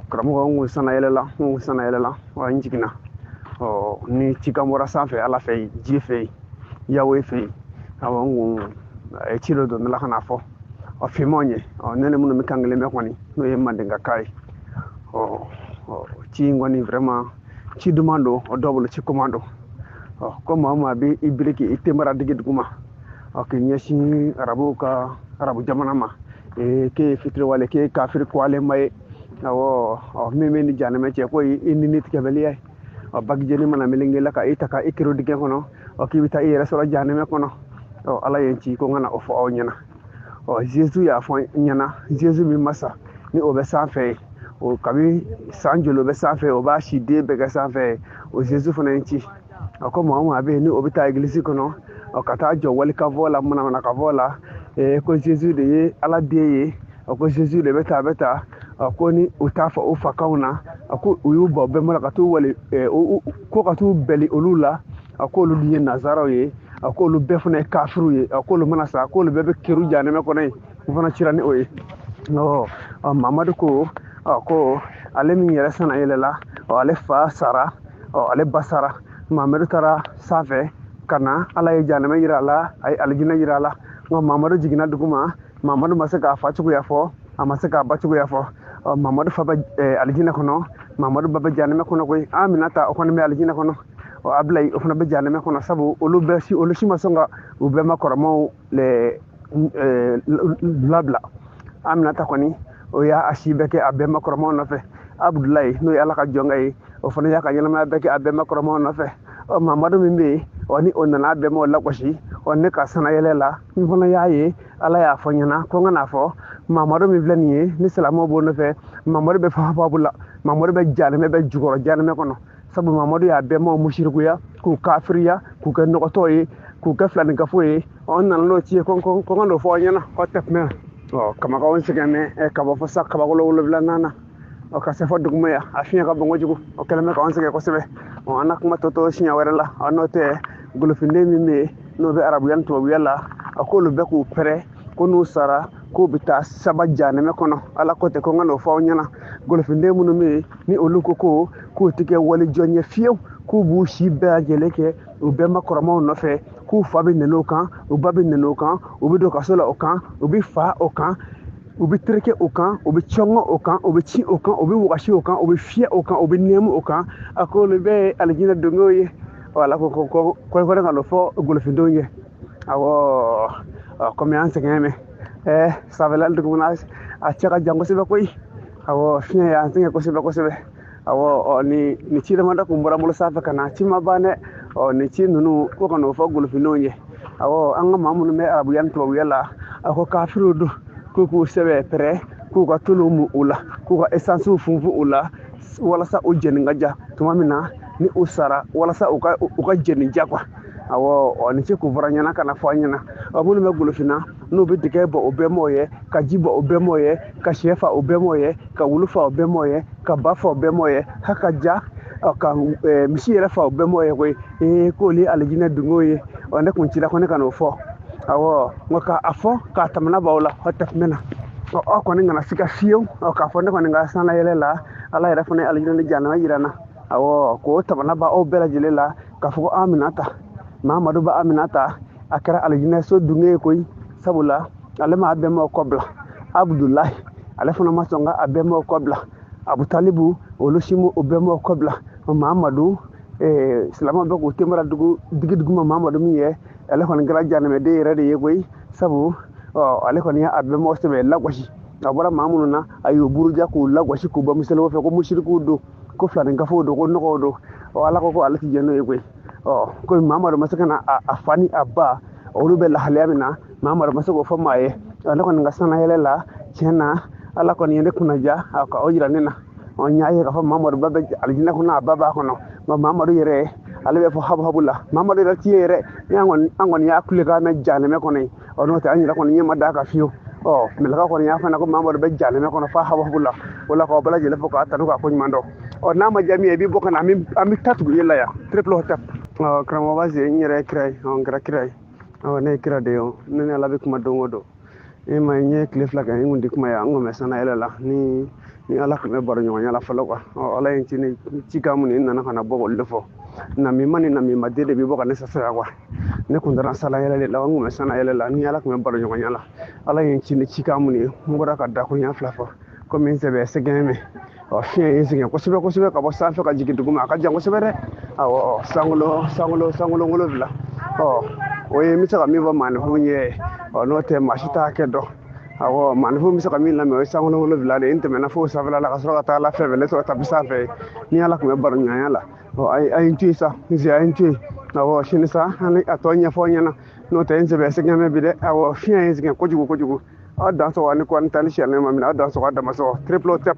karamɔgɔ n kun sanna yɛlɛla n kun sanna yɛlɛla wa n jiginna ɔ ni cikan bɔra sanfɛ ala fɛ yen ji fɛ yen yawe fɛ yen awɔ n kun a ye ci dɔ don ne la ka n'a fɔ ɔ finmanw ye ɔ ne ni minnu bɛ kan kelen mɛn kɔni n'o ye mandenkakan ye ɔ ɔ ci in kɔni vraiment ci duman don o dɔw bolo ci goman don ɔ ko maa o maa bɛ i biri k'i tenbara digi duguma ɔ k'i ɲɛsin arabuw ka arabu jamana ma ee k'e ye fitiriwale k'e ye kafiri kɔgɔlenba ye awɔ ɔ min bɛ ni janɛmɛ cɛ ko i i ni tigɛbaliya ye ɔ bagi jɛnin mana melenge i la ka i ta ka i kerun dingɛ kɔnɔ ɔ k'i bɛ taa i yɛrɛ sɔrɔ janɛmɛ kɔnɔ ɔ ala ye n ci ko n ka na o fɔ aw ɲɛna ɔ zezu y'a fɔ n ɲɛna zezu min ma sa ni o bɛ sanfɛ yen o kabi san joli o bɛ sanfɛ o b'a si den bɛɛ kɛ sanfɛ yen o zezu fana ye n ci a ko maa o maa bɛ yen ni o bɛ taa egilisi kɔnɔ ɔ ka taa jɔ walikan fɔ la manamanakan fɔ la ee ko zezu de ye ala den ye a ko zezu de bɛ taa a bɛ taa a ko ni u t'a fɔ u fakanw na a ko u y'u bɔ bɛnbaw la ka t'u wali ko ka t'u bɛli olu la a k'olu dun ye nazaraw ye a k'olu bɛɛ fana ye kafiriw ye a k'olu mana sa a k'olu bɛɛ bɛ kerun janɛmɛ kɔnɔ yen u fana cira ni o ye ɔ mamadu ko ɔ ko ale min yɛrɛ sanna yɛlɛla ɔ ale fa sara ɔ ale ba sara mamadu taara sanfɛ ka na ala ye janɛmɛ yira a la a ye alijinɛ yira a la ɔ mamadu jiginna dugu ma mamadu ma se k'a fa cogoya fɔ a ma se k'a ba cogoya fɔ ɔ mamadu fa bɛ eh, alijinɛ kɔnɔ mamadu ba bɛ janɛmɛ kɔnɔ koyi aminata o kɔni bɛ alijinɛ kɔnɔ ɔ abilayi o fana bɛ janɛmɛ kɔnɔ sabu olu bɛɛ si olu si ma sɔn ka u bɛnba kɔrɔmaw le eh, labila aminata kɔni o y'a a si bɛɛ kɛ a bɛnba kɔrɔmaw nɔfɛ abudulayi n'o ye ala ka jɔnkɛ ye o fana y'a ka ɲɛnamaya bɛɛ kɛ a bɛnba kɔrɔmaw nɔfɛ ɔ mamadu min bɛ yen ɔ ni o nana a bɛnbaw lagosi ɔ ne ka sannayɛlɛ la n fana y'a ye ala y'a fɔ n ɲɛna ko n ka n'a fɔ mamadu min filɛ nin ye ni silamɛw b'o nɔfɛ mamadu bɛ fafabu la mamadu bɛ janɛmɛ bɛɛ jukɔrɔ janɛmɛ kɔnɔ sabu mamadu y'a bɛnbaw musirikuya k'u kafiriya k'u kɛ nɔgɔtɔ ye k'u kɛ filankafo ye n nana n'o ci ye ko ko n ka n'o fɔ aw ɲɛna k'o tɛ kuma ɔ kamakaw sɛgɛnnen bɛ ka bɔ fo san kabakolo wolonwulanan na ɔ ka se fo duguma yan a fiɲɛ ka bon kojugu o kɛlen bɛ k'an sɛgɛn kosɛbɛ ɔ an na kuma tɔ to siɲɛ wɛrɛ la ɔ n'o tɛ golofinden min bɛ yen n'o bɛ arabuya ni tubabuya la a k'olu bɛɛ k'u pɛrɛ ko n'u sara k'u bɛ taa saba janɛmɛ kɔnɔ ala ko ten ko n ka n'o fɔ aw ɲɛna golofinden minnu bɛ yen ni olu ko ko k'u tɛ kɛ walijɔn ye fiyewu k'u b'u si bɛɛ lajɛlen kɛ u bɛnba kɔrɔmaw nɔfɛ k'u fa bɛ nɛni o kan u ba bɛ nɛni o kan u bɛ don kaso la o kan u bɛ fa o kan u bɛ tereke o kan u bɛ cɔngɔ o kan u bɛ ci o kan u bɛ wagasi o kan u bɛ fiyɛ o kan u bɛ nɛmu o kan a ko olu bɛɛ ye alijinɛ dungew ye ɔ ala ko ko kɔrɔkɔrɔ ka n'o fɔ golofindenw ye awɔ ɔ kɔmi an sɛgɛn mɛ ɛɛ sanfɛla dugumana a cɛ ka jan kosɛbɛ koyi awɔ fiɲɛ y'an sɛgɛn kosɛbɛ kosɛbɛ ɔ ni ni ci damadɔ kun bɔra bolo sanfɛ ka na ci ma ban dɛ ɔ ni ci ninnu ko ka n'o fɔ golofindenw ye awɔ an ka maa minnu bɛ arabuya ni tubabuya la a ko kafiriw don k'u k'u sɛbɛ pɛrɛ k'u ka tulu mu u la k'u ka esansiw funfun u la walasa u jɛni ka ja tuma min na ni u sara walasa u ka u ka jɛni ja quoi awɔ ni ci kun fɔra n ɲɛna ka na fɔ an ɲɛna ɔ minnu bɛ golofinna n'u bɛ dɛgɛ bɔ o bɛnbaw ye ka ji bɔ o bɛnbaw ye ka sɛ fa o bɛnbaw ye ka wulu fa o bɛnbaw ye ka ba fa o bɛnbaw ye hali ka ja ka misi yɛrɛ fa o bɛnbaw ye koyi ee k'olu ye alijinɛ dungew ye ɔ ne kun cira ko ne ka n'o fɔ awɔ nka ka a fɔ k'a tamana b'aw la aw tɛmɛ na ɔ aw kɔni kana siga fiyewu ɔ k'a fɔ ne kɔni ka sanayɛlɛ la ala yɛrɛ fana ye alijinɛ ni janama jira n na awɔ k'o tamana b'aw bɛɛ lajɛlen la k'a fɔ ko aminata mamadu ba aminata a kɛra alijinɛso dunge ye koyi sabula ale ma a bɛnbaw kɔ bila abudulayi ale fana ma sɔn ka a bɛnbaw kɔ bila abutalibu olu si ma o bɛnbaw kɔ bila mamadu eh, silamɛw bɛ k'u temara dugu digi duguma mamadu min ye ale kɔni kɛra janɛmɛden yɛrɛ de ye koyi sabu ɔ ale kɔni y'a bɛnbaw sɛbɛ lagosi a bɔra maa minnu na a y'u buruja k'u lagosi k'u bɔ misɛnninw fɛ ko musirikiw don ko filaninkafow don ko nɔgɔw don ɔ ala ko ko ale ti jɛn n'o ye koyi ɔ komi mamadu ma se ka na a fa ni a ba olu bɛ lahalaya min na mamadu ma se k'o fɔ maa ye ne kɔni ka sanayɛlɛ la tiɲɛ na ala kɔni ye ne kunnaja ka o jira ne na ɔ n y'a ye k'a fɔ mamadu ba bɛ alijinɛ kɔnɔ a ba b'a kɔnɔ nka mamadu yɛrɛ ale bɛ fo habuhabu la mamadu yɛrɛ ti ye yɛrɛ an kɔni y'a kulekan mɛn janɛmɛ kɔnɔ yen ɔ n'o tɛ an yɛrɛ kɔni ɲɛ ma d'a kan fiyewu ɔ mɛlɛka kɔni y'a fɔ n ɲɛna ko mamadu bɛ janɛmɛ kɔnɔ fo habuhabu la o la k'aw bɛɛ lajɛlen fo k'a tanu k'a ko ɲuman dɔn ɔ n'a ma diya min ye i b'i bɔ ka na an bɛ an bɛ taa tugu e la yan triple hotep ɔ karamɔgɔ basi n yɛrɛ ye kira ye ɔ n kɛra kira ye ɔ ne ye kira de ye o ne ni ala bɛ kuma don o don i ma n ye tile fila kɛ n kun tɛ kuma yan n kun bɛ sanayɛlɛ la ne ni ala tun bɛ baro ɲɔgɔnya la fɔlɔ quoi ɔ ala ye ci ni cikan mun ye n nana ka na bɔ k'olu de fɔ namima ni namima den de bɛ bɔ ka ne sasira quoi ne kun taara sanna yɛlɛ de la n kun bɛ sanna yɛlɛ la ni ala tun bɛ baro ɲɔgɔnya la ala ye n ci ni cikan min ye n bɔra ka dakuruɲa fila fɔ komi n sɛbɛ sɛgɛn bɛ ɔ fiɲɛ ye n sɛgɛn kosɛbɛ kosɛbɛ ka bɔ sanfɛ ka jigin duguma a ka jan kosɛbɛ dɛ awɔ sankolo sankolo sankolo wolonfila ɔ o ye n bɛ se ka min fɔ maaninfinw ye ɔ n'o tɛ maa si t'a hakɛ dɔn awɔ maaninfinw bɛ se ka min lamɛn o ye sankolo wolonfila de ye n tɛmɛna fo sanfɛla la ka sɔrɔ ka taa ala fan fɛ ne sɔrɔ tapi sanfɛ ni ala tun bɛ baro ɲɔgɔnya la ɔ a ye a ye n to yen sa n se a ye n to yen awɔ sini sa an bɛ a tɔ ɲɛfɔ aw ɲɛna n'o tɛ n sɛbɛ sɛgɛn bɛ bi dɛ awɔ fiɲɛ ye n sɛgɛn kojugu kojugu aw dan sɔgɔ ani kɔni tali siyɛnɛ ma minɛ aw dan sɔgɔ a dama sɔgɔ triple tap